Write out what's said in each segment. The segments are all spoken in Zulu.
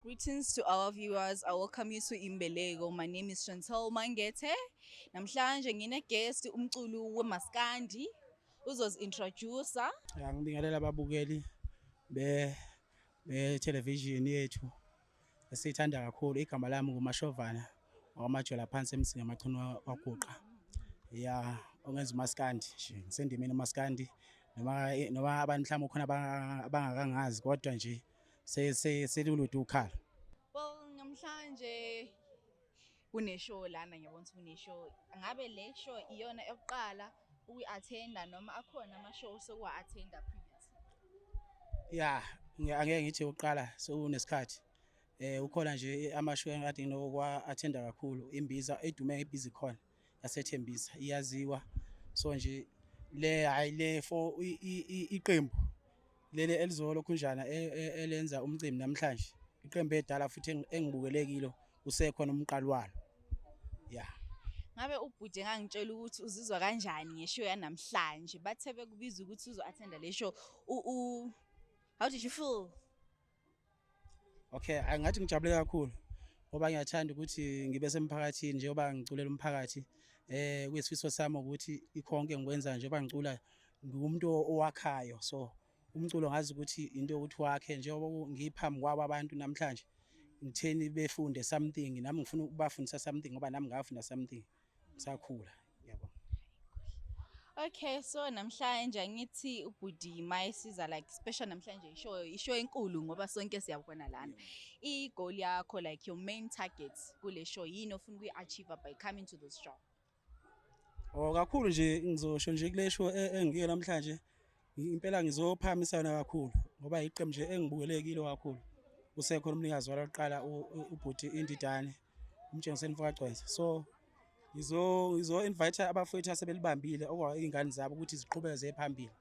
Greetings to our viewers. I welcome you to Imbeleko. My name is Chantel Mangete. Namhlanje ngine guest umculi wemaskandi uzozi introduce. Ngibingelela ababukeli be be television yethu. esiyithanda kakhulu igama lami ngumashovana wakwamajola phansi emsinga amachunu waguqa ya ongenza umaskandi nje ngisendimeni umaskandi noma noma abantu mhlawumbe khona abangakangazi kodwa nje selulude ukhala namhlanje kune show lana ngiyabona ukuthi kune show ngabe le show iyona yokuqala ukuyi-athenda noma akhona ama-show sokuwa-athenda previous ya angeke ngithi ukuqala sekunesikhathi eh ukhona nje amashow engikade nginokuwa-athenda kakhulu imbiza edume ngebhizi khona yasethembisa iyaziwa so nje le hayi le for iqembu leli elizolo khunjana e, e, elenza umcimbi namhlanje iqembu edala futhi engibukelekilo usekhona umqali walo ya ngabe ubhuti engangitshela ukuthi uzizwa kanjani ngeshow yanamhlanje bathe bekubiza ukuthi uzo-attenda le show how did you feel Okay, angathi ngijabule kakhulu ngoba ngiyathanda ukuthi ngibe semphakathini njengoba ngiculela umphakathi eh kuyisifiso sami ukuthi ikhonke ngikwenza njengoba ngicula ngumuntu owakhayo so umculo ngazi ukuthi into yokuthi wakhe njengoba ngiphambi kwabo abantu namhlanje ngitheni befunde something nami ngifuna ukubafundisa something ngoba nami ngafunda something sakhula yabo Okay so namhlanje angithi ubhuti maye siza like special namhlanje ishow ishow enkulu ngoba sonke siyabona lana i goal yakho like your main target kule show yini ofuna ukuyi achieve by coming to this show Oh kakhulu nje ngizosho nje kule show e, engiyo namhlanje Impela ngizophakamisana kakhulu ngoba iqembu nje engibukelekile kakhulu usekhona umnikazi walo kuqala ubhuti indidane umtshengiseni mfakagcwenza so ngizo-invite abafowethu asebelibambile okuyingane zabo ukuthi ziqhubeke ziye phambili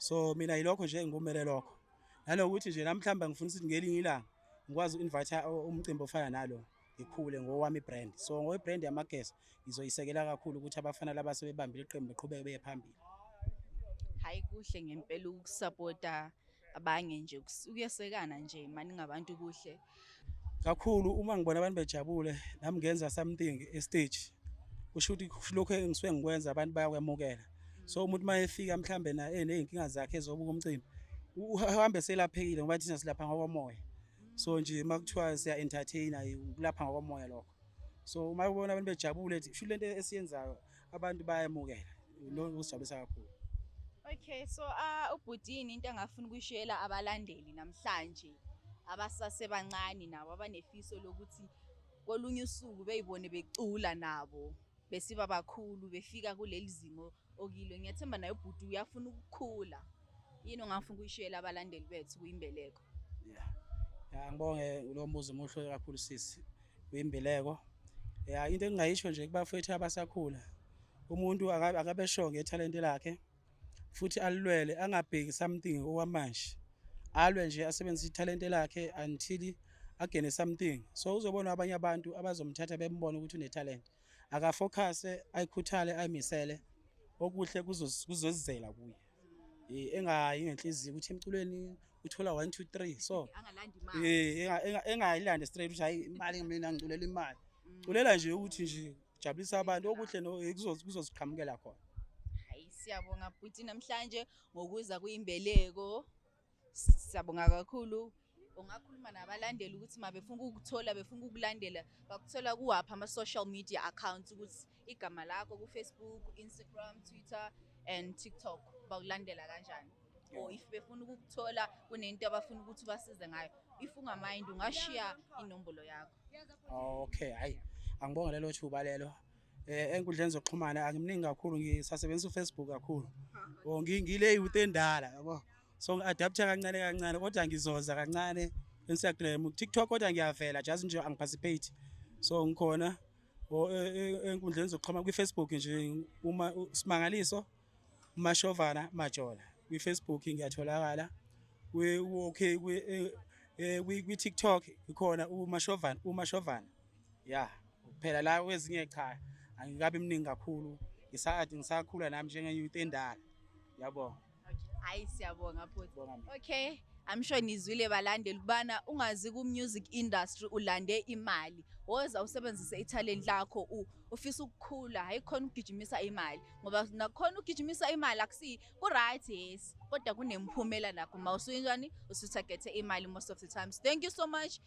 so mina yilokho nje engikumele lokho nanokuthi nje namhlawumbe ngifuna ukuthi ngelinye ilanga ngikwazi u-invite umcimbi ofana nalo ngikhule ngowami brand so ngowe brand yamageso ngizoyisekela kakhulu ukuthi abafana laba sebebambile iqembu beqhubeke beye phambili hayi kuhle ngempela ukusupporta abanye nje ukuyesekana nje mani ngabantu kuhle kakhulu uma ngibona abantu bejabule nami ngenza something e stage kusho ukuthi lokho engisuke ngikwenza abantu bayakwemukela so umuntu uma efika mhlambe na eney'nkinga zakhe ezobuka umcimbi uhambe selaphekile ngoba thina silapha ngokomoya so nje uma kuthiwa siya entertain kulapha ngokomoya lokho so uma ubona abantu bejabule sho lento esiyenzayo abantu bayamukela lo kusijabulisa kakhulu Okay so uh ubhutini into engafuna ukuyishela abalandeli namhlanje abasase bancane nabo abanefiso lokuthi kolunye usuku beyibone becula nabo besiba bakhulu befika kuleli zimo okilo ngiyathemba naye ubhuti uyafuna ukukhula yini ongafuna ukuyishela abalandeli bethu kuyimbeleko yeah ya ngibonge lo mbuzo muhle kakhulu sisi kuyimbeleko ya into engingayisho nje kubafethu abasakhula umuntu akabeshonge ithalente lakhe futhi alilwele angabheki something okwamanje alwe nje asebenzise ithalente lakhe until agene something so uzobona abanye abantu abazomthatha bembone ukuthi unethalente akafokhase ayikhuthale ayimisele okuhle kuzozizela kuye eh, engayi ngenhliziyo ukuthi emculweni uthola 1 2 3 so eh engayilande straight ukuthi hayi imali mina ngiculela imali mm. culela nje ukuthi nje jabulisa abantu okuhle kuzoziqhamukela khona hayi siyabonga bhuti namhlanje ngokuza kuyimbeleko siyabonga kakhulu ungakhuluma nabalandeli ukuthi mabefuna ukuthola befuna ukulandela bakuthola kuwaphi ama-social media accounts ukuthi igama lakho kufacebook instagram twitter and tiktok bakulandela kanjani or if befuna ukukuthola kunento abafuna ukuthi basize ngayo if ungamind ungashiya inombolo yakho okay hayi angibonge lelo thuba lelo eh enkundleni zokuxhumana angimningi kakhulu ngisasebenzisa uFacebook kakhulu or ngingile youth endala yabo so ngi-adaptha kancane kancane kodwa ngizoza kancane Instagram TikTok kodwa ngiyavela just nje angiparticipate so ngikhona e, e, enkundleni zokuxhumana kwi-Facebook nje uma simangaliso Mashovana Majola kwi-Facebook ngiyatholakala okay eh, eh, kwi-TikTok ikhona uMashovana uMashovana ya phela la kwezinye cha angikabi mningi kakhulu ngisade ngisakhula nami njenge-youth endala yabo hayi siyabonga futhi okay I'm sure nizwile balandeli kubana ungazi ku music industry ulande imali woza usebenzise italent lakho ufisa ukukhula hayi khona ukugijimisa imali ngoba nakhona ugijimisa imali akusi ku right yes kodwa kunemphumela nakho uma usuyinjani usuthagethe imali most of the times thank you so much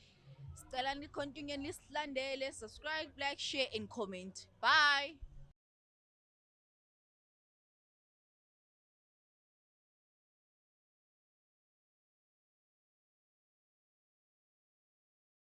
sicela ni continue lisilandele subscribe like share and comment bye